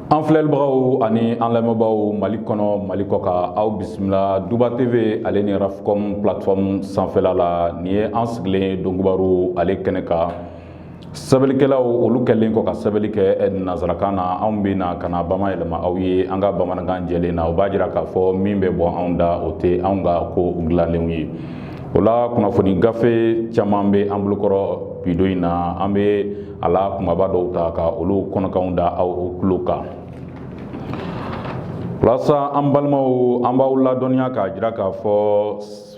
an filɛlibagaw ani an lamɛnbaaw mali kɔnɔ mali kɔkan aw bisimila duba tv ale ni rafcom plateforme sanfɛla la nin ye an sigilen donkibaru ale kɛnɛ kan sɛbɛnnikɛlaw olu kɛlen kɔ ka sɛbɛnni kɛ eh, nansarakan na anw bɛ na ka na bamayɛlɛma aw ye an ka bamanankan jɛlen na o b'a jira k'a fɔ min bɛ bɔ anw da o tɛ anw ka ko dilanlenw ye o la kunnafoni gafe caman bɛ an bolokɔrɔ bi don in na an bɛ a la kunbaba dɔw ta ka olu kɔnɔkan da aw tulo kan walasa an balimaw an b'aw ladɔnniya k'a jira k'a fɔ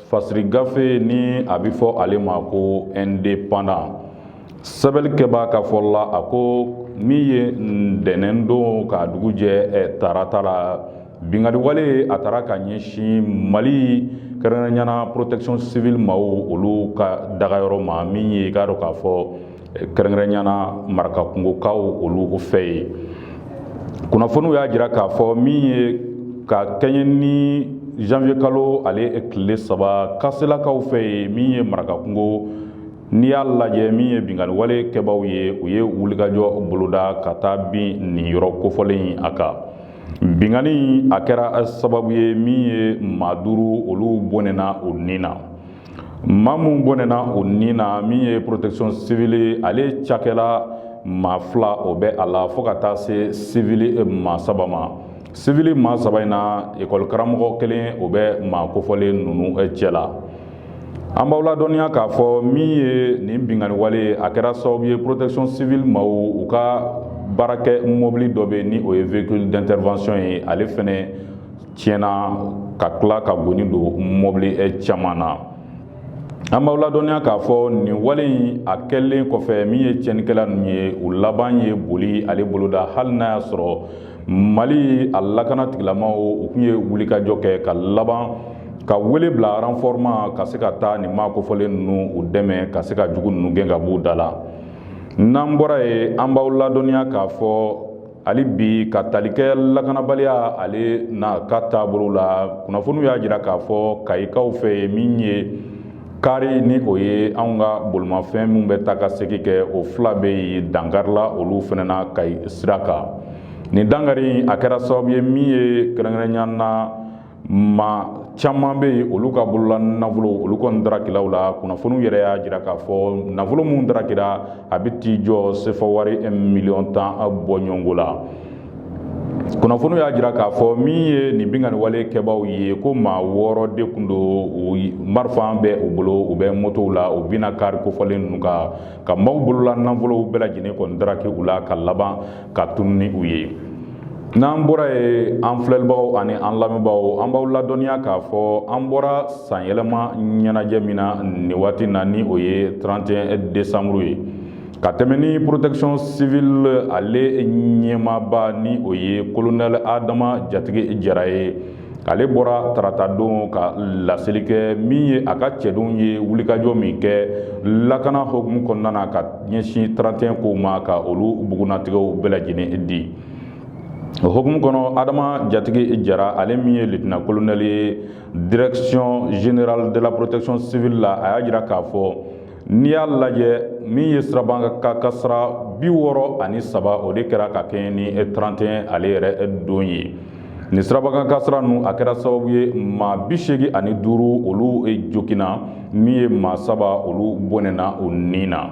fasiri gafe ni a bɛ fɔ ale ma ko indépendant sɛbɛnnikɛbaa ka fɔ la a ko min ye ntɛnɛn don ka dugu jɛ tarata la Binkaliwale a taara ka ɲɛsin Mali kɛrɛnkɛrɛnnenya la protection civile maaw olu ka dagayɔrɔ ma min ye i k'a dɔn k'a fɔ kɛrɛnkɛrɛnnenya la marakakungokaw olu fɛ yen kunnafoniw y'a jira k'a fɔ min ye ka kɛɲɛ ni janvier kalo ale tile saba kaselakaw fɛ yen min ye marakakungo n'i y'a lajɛ min ye binkaliwale kɛbaaw ye u ye wulikajɔ boloda ka taa bin nin yɔrɔ kofɔlen in a kan Binkanni a kɛra sababu ye min ye maa duuru olu bɔnɛna o ni na maa minnu bɔnɛna o ni na min ye protection civile ale cakɛla maa fila o bɛ a la fo ka taa se civil maa saba ma civil maa saba in na ekɔli karamɔgɔ kelen o bɛ maa kofɔlen ninnu cɛ la an b'aw ladɔnniya k'a fɔ min ye nin binkanni wale a kɛra sababu ye protection civile maw u ka baarakɛ mobili dɔ bɛ ni o ye véhicule d'intervention ye ale fɛnɛ tiɲɛna ka tila ka goni don mobili eh, caman na an b'aw ladɔnniya k'a fɔ nin wale in a kɛlen kɔfɛ min ye tiɲɛnikɛla ninnu ye u laban ye boli ale boloda hali n'a y'a sɔrɔ mali a lakana tigilamaw u tun ye wulikajɔ kɛ ka laban ka wele bila renfort ma ka se ka taa nin maa kofɔlen ninnu u dɛmɛ ka se ka jugu ninnu gɛn ka b'u da la n'an bɔra yen an b'aw ladɔnniya k'a fɔ hali bi ka tali kɛ lakanabaliya ale n'a ka taabolo la kunnafoniw y'a jira k'a fɔ kayikaw fɛ yen min ye kari ni o ye anw ka bolimafɛn minnu bɛ taa ka segin kɛ o fila bɛ yen dankarila olu fɛnɛ na kayi sira kan nin dankari in a kɛra sababu ye min ye kɛrɛnkɛrɛnya na maa caman bɛ yen olu ka bolola nafolo olu kɔni darakila u la kunnafoniw yɛrɛ y'a jira k'a fɔ nafolo minnu darakira a bɛ t'i jɔ sefa wari miliyɔn tan bɔɲɔgɔnko la kunnafoniw y'a jira k'a fɔ min ye nin binkanni wale kɛbaaw ye ko maa wɔɔrɔ de tun don marifa bɛ u bolo u bɛ motow la u binna kari kofɔlen ninnu kan ka maaw bolola nafolow bɛɛ lajɛlen kɔni daraki u la ka laban ka tunu ni u ye n'an bɔra yen an filɛlibagaw ani an lamɛnbaaw an b'aw ladɔnniya k'a fɔ an bɔra sanyɛlɛma ɲɛnajɛ min na nin waati na ni o ye 31 desanburu ye ka tɛmɛ ni protection civile ale ɲɛmaaba ni o ye kolonɛli adama jatigi jara ye ale bɔra taratadon ka laseli kɛ min ye a ka cɛdenw ye wulikajɔ min kɛ lakana hukumu kɔnɔna na ka ɲɛsin 31 kow ma ka olu bugunnatigɛw bɛɛ lajɛlen di o hukumu kɔnɔ adama jatigi jara ale min ye litina kolonɛli ye direction générale de la protection civile la a y'a jira k'a fɔ N'i y'a lajɛ min ye sirabakan kasira bi wɔɔrɔ ani saba o de kɛra ka kɛɲɛ ni 31 ale yɛrɛ don ye nin sirabakan kasira ninnu a kɛra sababu ye maa bi seegin ani duuru olu joginna min ye maa saba olu bɔnɛna u ni na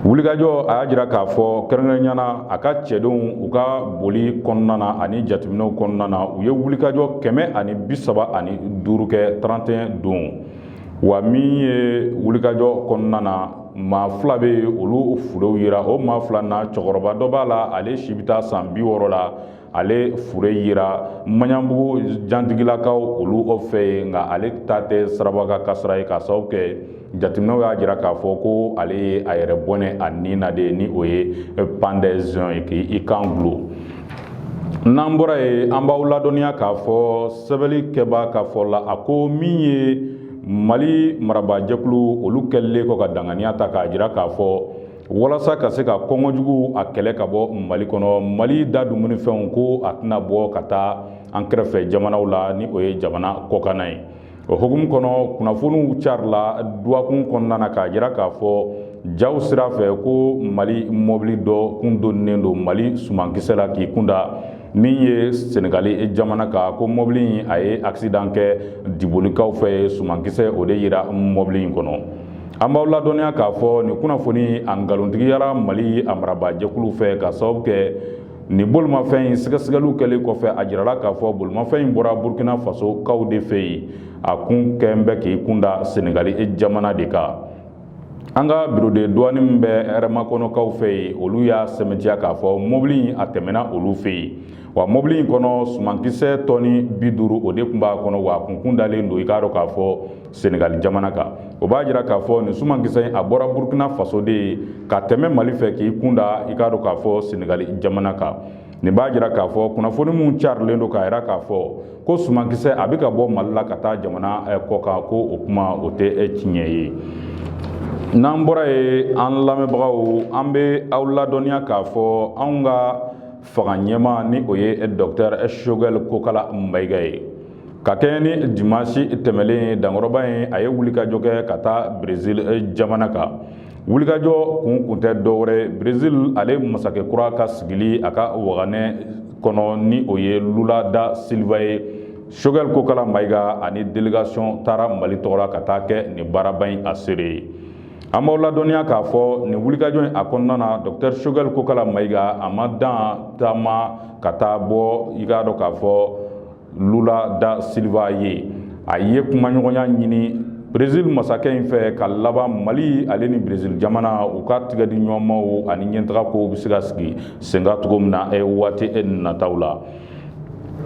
wulikajɔ a y'a jira k'a fɔ kɛrɛnkɛrɛnnenya na a ka cɛdenw u ka boli kɔnɔna na ani jateminɛw kɔnɔna na u ye wulikajɔ kɛmɛ ani bi saba ani duuru kɛ 31 don wa min ye wulikajɔ kɔnɔna na maa fila bɛ yen olu furew yera o maa fila na cɛkɔrɔba dɔ b'a la ale si bɛ taa san bi wɔɔrɔ la ale fure yera maɲanbugu jantigilakaw olu o fɛ yen nka ale ta tɛ sirabakan kasara ye ka sababu kɛ jateminɛw y'a jira k'a fɔ ko ale ye a yɛrɛ bɔnɛ a ni na de ni o ye pandɛzɔn ye k'i i kan dulon n'an bɔra yen an b'aw ladɔnniya k'a fɔ sɛbɛnli kɛbaa ka fɔ la a ko min ye mali marabaajɛkulu olu kɛlen kɔ ka danganiya ta k'a jira k'a fɔ walasa ka se ka kɔngɔjugu a kɛlɛ ka bɔ mali kɔnɔ mali da dumuni fɛnw ko a tɛna bɔ ka taa an kɛrɛfɛ jamanaw la ni o ye jamana kɔkanna ye o hukumu kɔnɔ kunnafoniw carila dɔgɔkun kɔnɔna na k'a jira k'a fɔ jaw sira fɛ ko mali mɔbili dɔ kun donnen don mali sumankisɛ la k'i kunda min ye senegali jamana kan ko mɔbili in a ye accident kɛ dibolikaw fɛ yen sumankisɛ o de yera mɔbili in kɔnɔ an b'aw ladɔnniya k'a fɔ nin kunnafoni a nkalontigiyara mali a marabaa jɛkulu fɛ ka sababu kɛ Nin bolimafɛn in sɛgɛsɛgɛliw kɛlen kɔfɛ a jirala k'a fɔ bolimafɛn in bɔra Burkina Faso kaw de fɛ yen, a kun kɛn bɛ k'i kun da Senegali jamana de kan. An ka bureau de douane min bɛ Hɛrɛmakɔnɔkaw fɛ yen, olu y'a sɛmɛntiya k'a fɔ mɔbili in a tɛmɛna olu fɛ yen. Wa mɔbili in kɔnɔ sumankisɛ tɔni bi duuru o de tun b'a kɔnɔ, wa a kun tun dalen don, i k'a dɔn k'a fɔ Senegali jamana kan o b'a jira k'a fɔ nin sumankisɛ in a bɔra Burkina Faso de ye ka tɛmɛ Mali fɛ k'i kunda i k'a dɔn k'a fɔ Senegali jamana kan nin b'a jira k'a fɔ kunnafoni minnu carilen don k'a jira k'a fɔ ko sumankisɛ a bɛ ka bɔ Mali la ka taa jamana eh, kɔkan ko o kuma o tɛ eh, tiɲɛ ye n'an bɔra yen an lamɛnbagaw an bɛ aw ladɔnniya k'a fɔ anw ka fanga ɲɛmaa ni o ye eh, Docteur Choguel Kokala Mayiga ye Ka kɛɲɛ ni dimanche tɛmɛlen dankɔrɔba in a ye wulikajɔ kɛ ka taa Brésil eh, jamana kan. Wulikajɔ kun kun tɛ dɔwɛrɛ Brésil ale masakɛ kura ka sigili a ka waganɛ kɔnɔ ni o ye Lula da Silva ye. Choguel Kokala Mayiga ani delegation taara Mali tɔgɔla ka taa kɛ nin baaraba in a seere ye. An b'aw ladɔnniya k'a fɔ nin wulikajɔ in a kɔnɔna na Docteur Choguel Kokala Mayiga a ma dan taama ka taa bɔ i k'a dɔn k'a fɔ lula da silva ye a ye kumaɲɔgɔnya ɲini brezil masakɛ in fɛ ka laban mali ale ni brezil jamana u ka tɛgɛdiɲɔgɔnmaw ani ɲɛtaga kow bɛ se ka sigi senkan cogo min na waati nataw la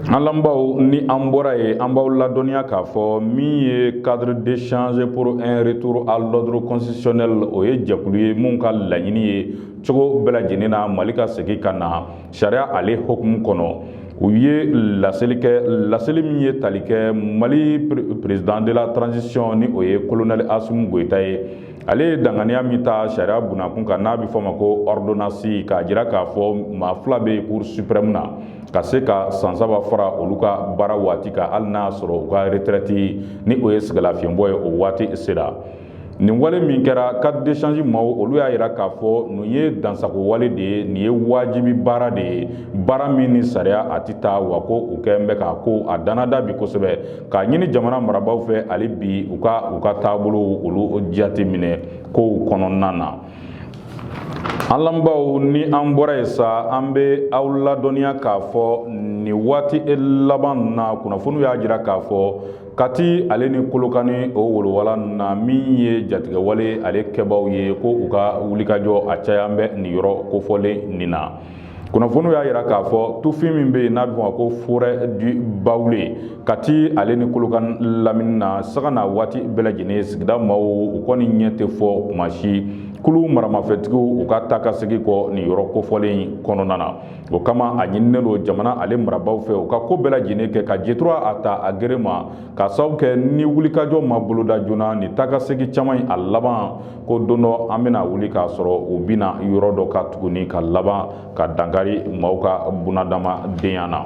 an lamɛnbaaw ni an bɔra yen an b'aw ladɔnniya k'a fɔ min ye cadre d'échange pour un retour à l'ordre constitutionnel o ye jɛkulu ye min ka laɲini ye cogo bɛɛ lajɛlen na mali ka segin ka na sariya ale hukumu kɔnɔ u ye laseli kɛ laseli min ye tali kɛ mali président de la transition ni o ye kolonɛli asimi goyita ye ale ye danganiya min ta sariya bunakun kan n'a bɛ fɔ ma ko ɔridonansi k'a jira k'a fɔ maa fila bɛ cour suprême na ka se ka san saba fara olu ka baara waati kan hali n'a sɔrɔ u ka retraite ni o ye sɛgɛnlafiɲɛbɔ ye o waati sera nin wale min kɛra cadre d'échange maaw olu y'a yira k'a fɔ nin ye dansagon wale de ye nin ye wajibi baara de ye baara min ni sariya a tɛ taa wa ko u kɛlen bɛ k'a ko a dannada bi kosɛbɛ k'a ɲini jamana marabaaw fɛ hali bi u ka u ka taabolow olu jateminɛ kow kɔnɔna na an lamɛnbaaw ni an bɔra yen sa an bɛ aw ladɔnniya k'a fɔ nin waati laban na kunnafoniw y'a jira k'a fɔ Kati ale ni kolokani o wolowala na min ye jatigɛwale ale kɛbaaw ye ko u ka wulikajɔ a cayalen bɛ nin yɔrɔ kofɔlen nin na kunnafoniw y'a jira k'a fɔ tufin min bɛ yen n'a bɛ f'a ma ko forêt du baoulé kati ale ni kolokani lamini na sanga ni waati bɛɛ lajɛlen sigida maaw u kɔni ɲɛ tɛ fɔ kuma si kulu maramafɛntigiw u ka taakasegin kɔ nin yɔrɔ kofɔlen kɔnɔna na o kama a ɲininen don jamana ale marabaaw fɛ u ka ko bɛɛ lajɛlen kɛ ka jetura a ta a gere ma ka sababu kɛ ni wulikajɔ ma boloda joona nin taakasegin caman in a laban ko don dɔ an bɛna wuli k'a sɔrɔ u bɛna yɔrɔ dɔ ka tuguni ka laban ka dankari maaw ka bunadamadenya na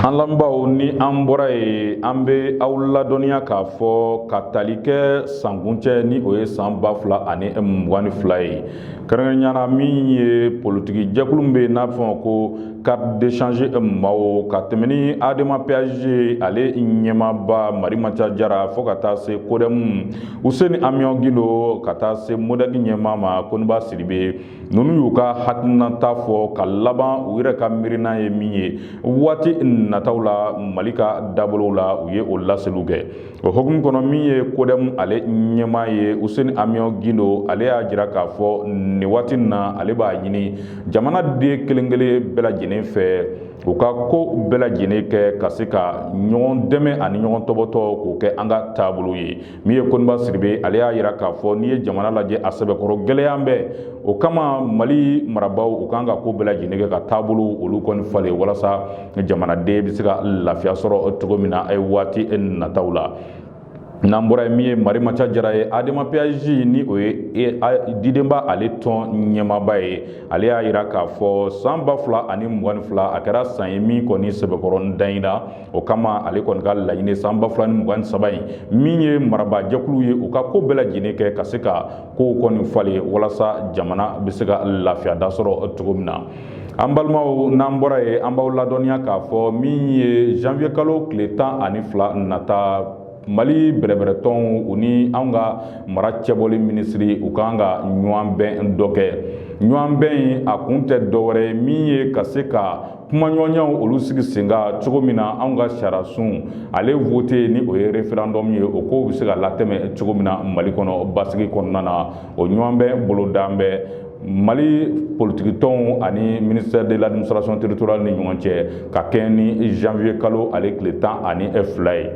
an lamɛnbaaw ni an bɔra yen an bɛ aw ladɔnniya k'a fɔ ka tali kɛ sankuncɛ ni o ye san ba fila ani mugan ni fila ye kɛrɛnkɛrɛnya na min ye politiki jɛkulu min bɛ yen n'a bɛ fɔ ma ko cadre d'échange maaw ka tɛmɛ ni adema pasj ale ɲɛmaaba marimanca jara fo ka taa se kodɛmu useni amiyɔn gindo ka taa se modɛki ɲɛmaa ma koninba sidibe ninnu y'u ka hakilinata fɔ ka laban u yɛrɛ ka miirina ye min ye waati nataw la mali ka dabolow la u ye o laseliw kɛ O hukumu kɔnɔ min ye kodɛmu ale ɲɛmaa ye useni amiyɔn gindo ale y'a jira k'a fɔ nin waati in na ale b'a ɲini jamanaden kelenkelen bɛɛ lajɛlen fɛ u ka ko bɛɛ lajɛlen kɛ ka se ka ɲɔgɔn dɛmɛ ani ɲɔgɔn tɔpɔtɔ k'o kɛ an ka taabolo ye min ye koninba sidibe ale y'a jira k'a fɔ n'i ye jamana lajɛ a sɛbɛkɔrɔ gɛlɛyalen bɛ o kama mali marabaaw u kan ka ko bɛɛ lajɛlen kɛ ka taabolow olu kɔni falen walasa jamanaden bɛ se ka lafiya sɔrɔ cogo min na a ye waati nataw la n'an bɔra yen min ye marimanca jara ye adema pasj ni o ye e, didenba ale tɔn ɲɛmaba ye ale y'a jira k'a fɔ san ba fila ani mugan ni fila a kɛra san ye min kɔni sɛbɛkɔrɔ dan in na o kama ale kɔni ka laɲini san ba fila ni mugan ni saba in min ye marabaajɛkulu ye u ka ko bɛɛ lajɛlen kɛ ka se ka kow kɔni falen walasa jamana bɛ se ka lafiya da sɔrɔ cogo min na an balimaw n'an bɔra yen an b'aw ladɔnniya k'a fɔ min ye janvier kalo tile tan ani fila nata mali bɛrɛbɛrɛtɔnw u ni anw ka mara cɛbɔli minisiri u kan ka ɲɔgɔn bɛn dɔ kɛ ɲɔgɔn bɛn in a kun tɛ dɔwɛrɛ ye min ye ka se ka kumaɲɔgɔnyaw olu sigi sen kan cogo min na anw ka sariyasun ale vote ni o ye referendum ye o kow bɛ se ka latɛmɛ cogo min na mali kɔnɔ basigi kɔnɔna na o ɲɔgɔn bɛn bolodalen bɛ mali politikitɔnw ani ministère de l'administration territoriale ni ɲɔgɔn cɛ ka kɛɲɛ ni janvier kalo ale tile tan ani fila ye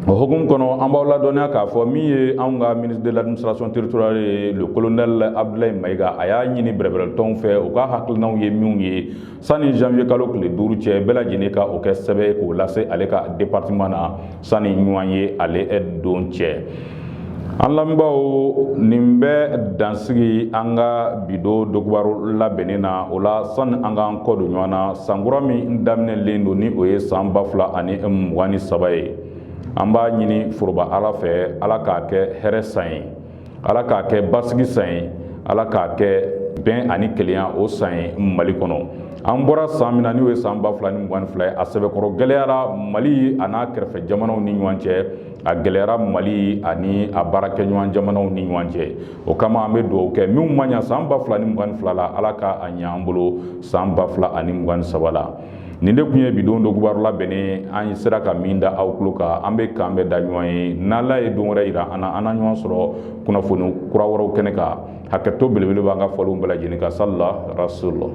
o hukumu kɔnɔ an b'aw ladɔnniya k'a fɔ min ye anw ka ministre de l'administration territoriale ye le colonel abdulayi mayiga a y'a ɲini bɛrɛbɛrɛtɔnw fɛ u ka hakilinaw ye minw ye sani janvier kalo tile duuru cɛ bɛɛ lajɛlen ka o kɛ sɛbɛn ye k'o lase ale ka departement na sani ɲɔgɔnye ale don cɛ an lamɛnbaaw nin bɛ dansigi an ka bi don dogobaro labɛnnen na o la sani an k'an kɔ don ɲɔgɔn na sankura min daminɛlen don ni o ye san ba fila ani mugan ni saba ye an b'a ɲini foroba ala fɛ ala k'a kɛ hɛrɛ san ye ala k'a kɛ basigi san ye ala k'a kɛ bɛn ani kelenya o san ye mali kɔnɔ an bɔra san min na n'o ye san ba fila ni mugan ni fila ye a sɛbɛkɔrɔ gɛlɛyara mali an'a kɛrɛfɛ jamanaw ni ɲɔgɔn cɛ a gɛlɛyara mali ani a baarakɛɲɔgɔn jamanaw ni ɲɔgɔn cɛ o kama an bɛ dugawu kɛ minnu ma ɲɛ san ba fila ni mugan ni fila la ala ka a ɲɛ an bolo san ba fila ani mugan ni saba la nin de tun ye bi don donkibaru labɛnnen an ye sera ka min da aw tulo kan an bɛ k'an bɛn da ɲɔgɔn ye n'ala ye don wɛrɛ yira an na an na ɲɔgɔn sɔrɔ kunnafoni kura wɛrɛw kɛnɛ kan hakɛto belebele b'an ka fɔlenw bɛɛ lajɛlen kan salila rasulula